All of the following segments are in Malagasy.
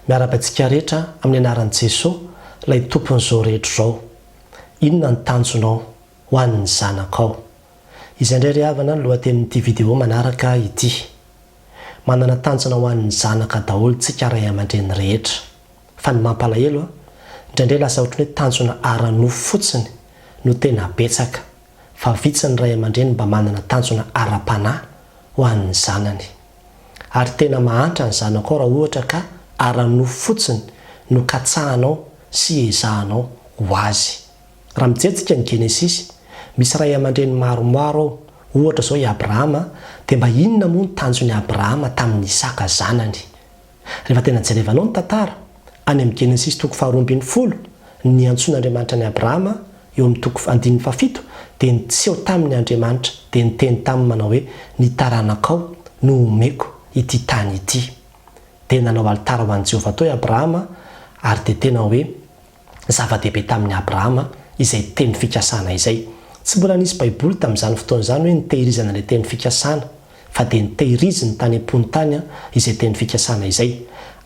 Miarahaba antsika rehetra amin'ny anaran'i Jesoa, ilay Tompon'izao rehetra izao. Inona ny tanjonao ho an'ny zanakao? Izay indray ry havana ny lohatenin'ity video manaraka ity. Manana tanjona ho an'ny zanaka daholo tsika ray aman-dreny rehetra. Fa ny mampalahelo, indraindray lasa ohatran'ny hoe tanjona ara-nofo fotsiny no tena betsaka. fa vitsy ny ray aman-dreny mba manana tanjona ara-panahy ho an'ny zanany. Ary tena mahantra ny zanakao raha ohatra ka ara-nofo fotsiny no katsahanao sy ezahanao ho azy. Raha mijery tsika ny Genesisy, misy ray aman-dreny maromaro ao, ohatra izao i Abrahama, dia mba inona moa ny tanjon'i Abrahama tamin'i Isaka zanany? Rehefa tena jerevanao ny tantara, any amin'ny Genesisy toko faharoa ambin'ny folo, ny antsoin'Andriamanitra an'i Abrahama eo amin'ny toko andininy fahafito dia niseho taminy Andriamanitra dia niteny taminy manao hoe ny taranakao no homeko ity tany ity. Dia nanao alitara ho an'i Jehovah tao i Abrahama ary dia tena hoe. Zava-dehibe tamin'i Abrahama izay teny fikasana izay. Tsy mbola nisy Baiboly tamin'izany fotoana izany hoe nitehirizana ilay teny fikasana, fa dia nitehiriziny tany am-pony tany izay teny fikasana izay.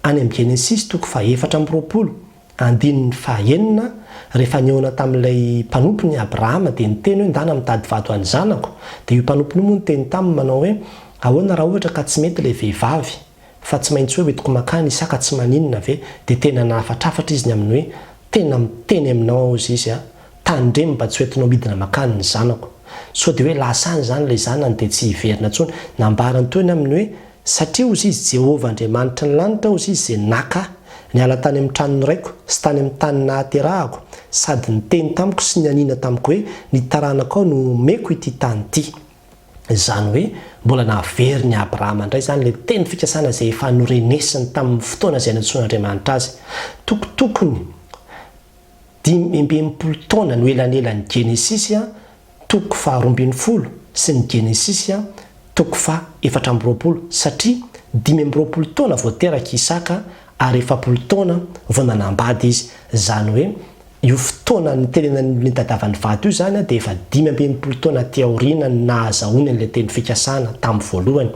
Any amin'ny Genesisy toko fahefatra amby roapolo, andininy fahaenina, rehefa nihaona tamin'ilay mpanompony i Abrahama, dia niteny hoe, Ndana mitady vady ho an'ny zanako. Dia io mpanompony io moa niteny taminy manao hoe, Ahoana raha ohatra ka tsy mety ilay vehivavy? Fa tsy maintsy hoe hoentiko makany isaka tsy maninona ve dia tena nahafatrafatra izy ny amin'ny hoe tena miteny aminao aho zy izy a! tandremo mba tsy hoentinao midina makany ny zanako! sao dia hoe lasa any izany ilay zanany dia tsy hiverina intsony nambarany teo ny amin'ny hoe satria hozy izy Jehovah Andriamanitry ny lanitra hozy izy izay naka ahy niala tany amin'ny tranon'ny raiko sy tany amin'ny tany nahaterahako sady niteny tamiko sy nianiana tamiko hoe ny taranakao no homeko ity tany ity Izany hoe mbola nahavery ny Abrahama indray izany ilay teny fikasana izay efa norenesiny tamin'ny fotoana izay nantsoin'Andriamanitra azy. Tokotokony dimy amby enimpolo taona no elanelan'ny Genesisy toko faharoa ambin'ny folo sy ny Genesisy toko faha efatra amby roapolo, satria dimy amby roapolo taona vao teraka i Isaka ary efapolo taona vao nanambady izy, izany hoe Io fotoana nitenenan'ny nitadiavan'ny vato io izany dia efa dimy amby enimpolo taona aty aoriana no nahazahoany an'ilay teny fikasana tamin'ny voalohany,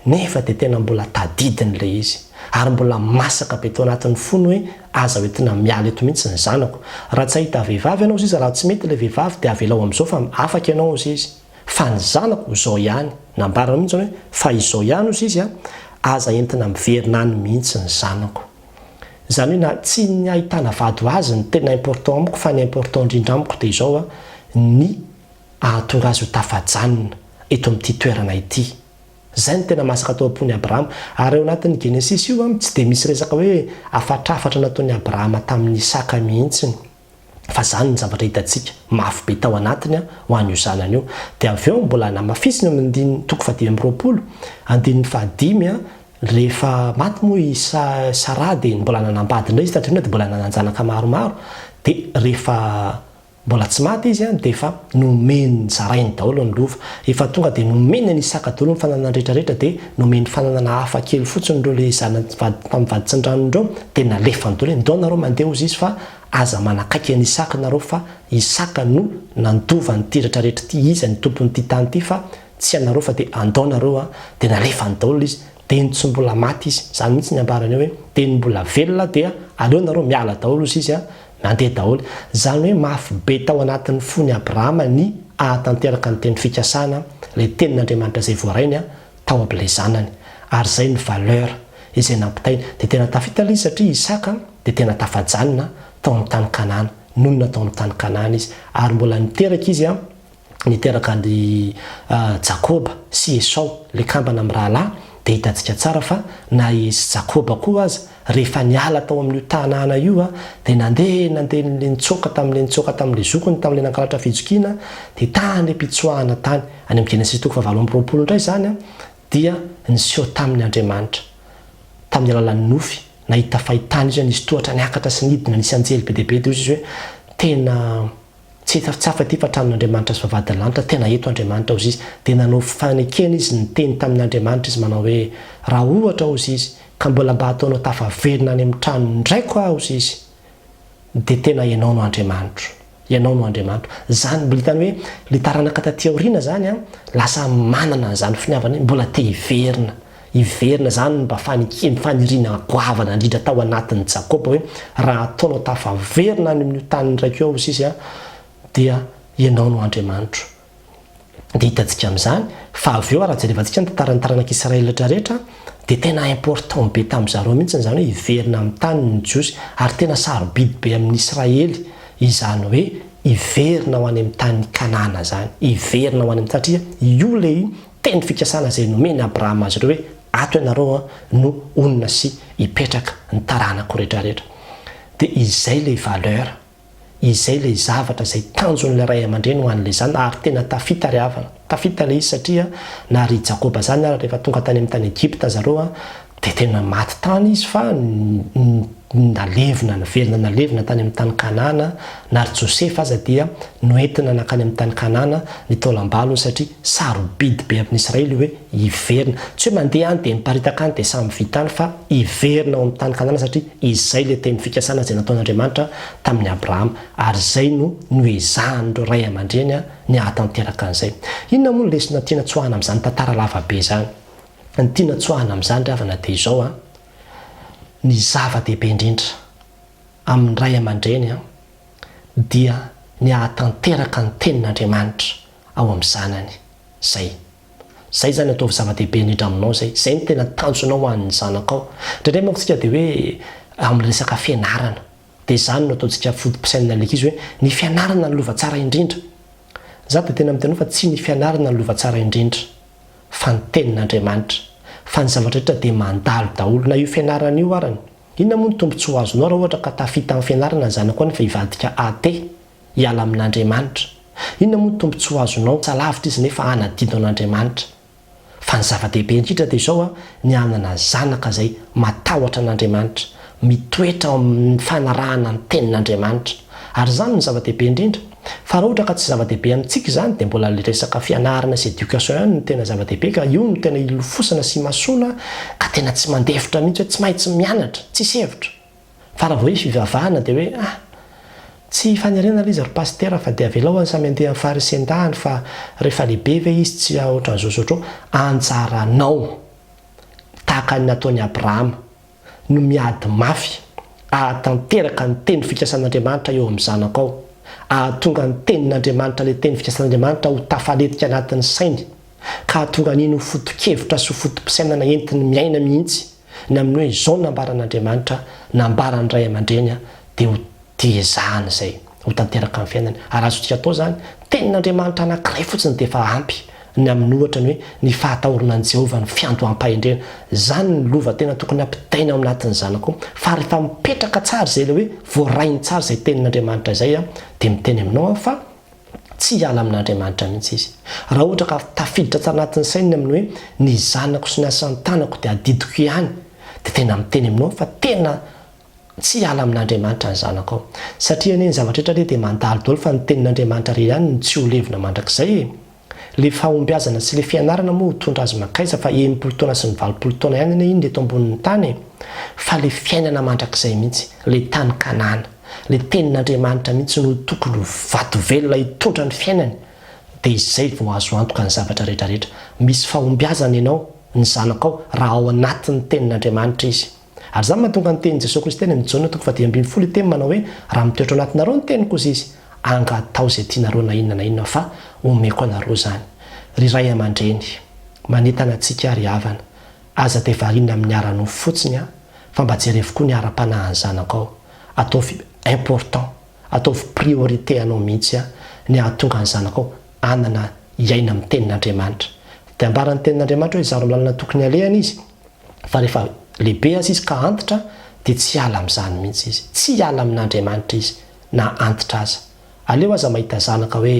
nefa dia tena mbola tadidiny ilay izy. Ary mbola masaka be tao anatin'ny fony hoe aza ho entina miala eto mihitsy ny zanako. Raha tsy hahita vehivavy ianao ziza, raha tsy mety ilay vehivavy dia avelao amin'izao fa afaka ianao ziza. Fa ny zanako ho izao ihany. Nambarany mihitsy izany hoe fa izao ihany hoy ziza, aza entina miverina any mihitsy ny zanako. Izany hoe na tsy ny ahitana vady ho azy no tena important amiko fa ny important indrindra amiko dia izao a, ny ahatonga azy ho tafajanona eto amin'ity toerana ity. Izay no tena masaka tao am-pon'i Abrahama. Ary ao anatin'ny Genesisy io a, tsy dia misy resaka hoe afatrafatra nataon'i Abrahama tamin'i Isaka mihitsy. fa izany ny zavatra hitantsika mafy be tao anatiny ho an'io zanany io. Dia avy eo mbola namafisiny amin'ny andininy toko fahadimy amby roapolo, andininy fahadimy, rehefa maty moa i Saraha dia mbola nanambady indray izy taty aoriana dia mbola nanan-janaka maromaro, dia rehefa mbola tsy maty izy dia efa. Nomeny, zarainy daholo ny lova. Efa tonga dia nomeny an' Isaka daholo ny fananany rehetra rehetra dia nomeny fananana hafa kely fotsiny ireo le zanany vady tamin'ny vaditsindranony ireo dia nalefany daholo hoe ndao nareo mandeha hozy izy fa aza manakaiky an' Isaka nareo fa Isaka no nandova an'ity rehetra rehetra ity izy no tompon'ity tany ity fa tsy ianareo fa dia andao nareo an dia nalefany daholo izy dia tsy mbola maty izy zany mihitsy ny ambarany eo hoe dia ny mbola velona dia aleo nareo miala daholo hozy izy an Nandeha daholo. Izany hoe mafy be tao anatin'ny fon'i Abrahama ny hahatanteraka ny teny fikasana, ilay tenin'Andriamanitra izay voarainy tao amin'ilay zanany. Ary izay ny valeur izay nampitainy. Dia tena tafita ilay izy satria i Isaka dia tena tafajanona tao amin'ny tany Kanana. Nonina tao amin'ny tany Kanana izy. Ary mbola niteraka izy niteraka an-dry Jakoba sy Esao, ilay kambana mirahalahy, dia hitantsika tsara fa na i Jakoba koa aza, rehefa niala tao amin'io tanàna io, dia nandeha nandeha nitsoaka tamin'ilay nitsoaka tamin'ilay zokiny tamin'ilay nangalatra fijokiana, dia tany am-pitsoahana tany. Any amin'ny Genesisy toko fahavalo amby roapolo indray izany dia niseho taminy Andriamanitra, tamin'ny alalan'ny nofy, nahita fahitana izy, nisy tohatra niakatra sy nidina, nisy anjely be dia be, dia hoy izy hoe, Tena. Tsy hita tsy hafa ity fa tranon'Andriamanitra sy vavahadin'ny lanitra, tena eto Andriamanitra hozy izy, dia nanao fanekena izy niteny tamin'Andriamanitra izy manao hoe, raha ohatra hozy izy ka mbola mba hataonao tafaverina any amin'ny tranon-draiko aho hozy izy dia tena ianao no Andriamanitro, ianao no Andriamanitro, zany mbola hitany hoe le taranaka taty aoriana zany an, lasa manana an'izany finiavana hoe mbola te hiverina. Hiverina izany ny mba fanikiam faniriana goavana andrindra tao anatin'i Jakoba hoe, Raha ataonao tafaverina any amin'io tany niraiko io aho sisa an, dia Ianao no Andriamanitro. Dia hitantsika amin'izany fa avy eo raha jerevantsika ny tantaran'ny taranak'Israelitra rehetra dia tena important be tamin'ny zareo mihitsy izany hoe hiverina amin'ny taniny ny Jiosy ary tena sarobidy be amin'ny Israely izany hoe hiverina ho any amin'ny tany Kanana izany, hiverina ho any amin'ny satria io ilay Teny fikasana izay nomen'i Abrahama azy ireo hoe, Ato ianareo no honina sy hipetraka, ny taranako rehetrarehetra. Dia izay ilay valeur, izay ilay zavatra izay tanjon'ilay ray aman-dreny ho an'ilay zanany ary tena tafita ry havana. Tafita ilay izy satria na ry Jakoba izany ary rehefa tonga tany amin'ny tany Egypta zareo, Dia tena maty tany izy fa nalevina, naverina nalevina tany amin'ny tany Kanana, na ry Josefa aza dia noentina nankany amin'ny tany Kanana ny taolam-balony satria sarobidy be amin'ny Israely io hoe hiverina. Tsy hoe mandeha any dia miparitaka any dia samy vita any fa hiverina ao amin'ny tany Kanana satria izay ilay teny fikasana izay nataon'Andriamanitra tamin'i Abrahama ary izay no noezahan'ireo ray aman-dreny ny hahatanteraka an'izay. Inona moa ny lesona tiana tsoahina amin'izany tantara lava be izany? Ny tiana tsoahina amin'izany ry havana dia izao an, ny zava-dehibe indrindra amin'ny ray aman-dreny dia ny hahatanteraka ny tenin'Andriamanitra ao amin'ny zanany. Izay. Izay izany ataovy zava-dehibe indrindra aminao izay. Izay no tena tanjonao ho an'ny zanakao. Indraindray manko isika dia hoe amin'ny resaka fianarana, dia izany no ataontsika foto-pisainana ilay ankizy hoe ny fianarana no lova tsara indrindra. Izaho dia tena miteny hoe fa tsy ny fianarana no lova tsara indrindra. fa ny tenin'Andriamanitra, fa ny zavatra rehetra dia mandalo daholo, na io fianarana io arany. Inona moa ny tombontsoa azonao raha ohatra ka tafita amin'ny fianarana ny zanako any fa hivadika athée, hiala amin'Andriamanitra? Inona moa ny tombontsoa azonao, tsa lavitra izy nefa hanadino an'Andriamanitra? Fa ny zava-dehibe indrindra dia izao, ny hanana zanaka izay matahotra an'Andriamanitra, mitoetra ao amin'ny fanarahana ny Tenin'Andriamanitra. Ary izany no zava-dehibe indrindra. Fa raha ohatra ka tsy zava-dehibe amintsika izany, dia mbola ilay resaka fianarana sy éducation ihany no tena zava-dehibe, ka io no tena ilofosana sy imasoana, ka tena tsy mandefitra mihitsy hoe tsy maintsy mianatra, tsisy hevitra. Fa raha vao hoe fivavahana dia hoe ah! tsy fanerena ilay izy ry Pasitera fa dia avelao any samy handeha amin'ny faharisin-dahany fa rehefa lehibe ve izy tsy hahaohatran'izao sy ohatr'izao? Anjaranao! Tahaka ny nataon'i Abrahama. no miady mafy ahatanteraka ny teny fikasan'Andriamanitra eo amin'ny zanako ao, ahatonga ny tenin'Andriamanitra ilay teny fikasan'Andriamanitra ho tafaletika anatin'ny sainy, ka hahatonga an'iny ho foto-kevitra sy ho foto-pisainana entiny miaina mihitsy ny amin'ny hoe izao nambaran'Andriamanitra, nambaran'ny ray aman-dreny dia ho dia ezahana izay ho tanteraka amin'ny fiainany, ary azontsika atao izany, ny tenin'Andriamanitra anankiray fotsiny dia efa ampy ny amin'ny ohatra ny hoe ny fahatahorana an'i Jehovah, ny fiandoham-pahendrena. Izany no lova tena tokony hampitaina ao anatin'ny zanako, fa rehefa mipetraka tsara izay, ilay hoe voarahiny tsara izay tenin'Andriamanitra izay aho, dia miteny aminao aho fa tsy hiala amin'Andriamanitra mihitsy izy. Raha ohatra ka tafiditra tsara anatin'ny sainy ny amin'ny hoe ny zanako sy ny asan'ny tanako dia adidiko ihany, dia tena miteny aminao aho fa tena Tsy hiala amin'Andriamanitra ny zanakao. Satria anie ny zavatra rehetra anie dia mandalo daholo fa ny tenin'Andriamanitra re ihany no tsy ho levona mandrakizay e! Le fahombiazana sy le fianarana moa ho tondra azy makaiza fa enimpolo taona sy ny valopolo taona ihany anie iny eto ambonin'ny tany e! Fa le fiainana mandrakizay mihitsy, le tany Kanana, le tenin'Andriamanitra mihitsy no tokony ho vato velona hitondra ny fiainany! Dia izay vao azo antoka ny zavatra rehetra rehetra. Misy fahombiazana ianao, ny zanakao, raha ao anatin'ny tenin'Andriamanitra izy. Ary izany mahatonga ny tenin'i Jesoa Kristy any amin'i Jaona toko fahadimy ambin'ny folo hiteny manao hoe, Raha mitoetra ao anatinareo ny teniko, hoy Izy, anga atao izay tianareo na inona na inona fa homeko anareo izany. Ry ray aman-dreny, manentana antsika ry havana, aza dia variana amin'ny ara-nofo fotsiny an, fa mba jerevo koa ny ara-panahin'ny zanakao. Ataovy important, ataovy priorité anao mihitsy an, ny hahatonga ny zanakao hanana hiaina amin'ny tenin'Andriamanitra. Dia ambaran'ny tenin'Andriamanitra hoe, izaro ny lalana tokony halehany izy, Fa rehefa lehibe aza izy ka antitra dia tsy hiala amin'izany mihitsy izy. Tsy hiala amin'Andriamanitra izy na antitra aza. Aleo aza mahita zanaka hoe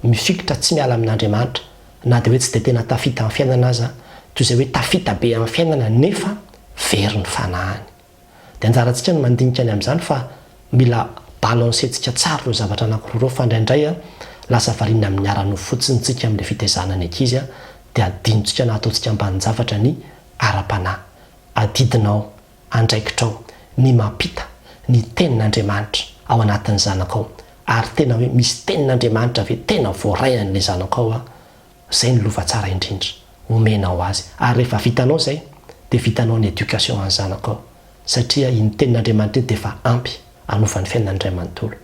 mifikitra tsy miala amin'Andriamanitra na dia hoe tsy dia tena tafita amin'ny fiainana aza, toy izay hoe tafita be amin'ny fiainana nefa very ny fanahiny. Dia anjarantsika ny mandinika ny amin'izany fa mila balancer-ntsika tsara ireo zavatra anankiroa ireo fa indraindray lasa variana amin'ny ara-nofo fotsiny isika amin'ilay fitaizana ny ankizy dia adinontsika na ataontsika ambanin-javatra ny ara-panahy. Adidinao andraikitrao ny mampita ny tenin'Andriamanitra ao anatin'ny zanakao ary tena hoe misy tenin'Andriamanitra ve tena voaray an'ilay zanakao? Zay ny lova tsara indrindra omenao azy ary rehefa vitanao zay dia vitanao ny éducation any zanako ao satria iny tenin'Andriamanitra iny dia efa ampy hanova ny fiainany iray manontolo.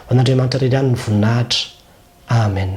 Ho an'Andriamanitra irery ihany ny voninahitra. Amen.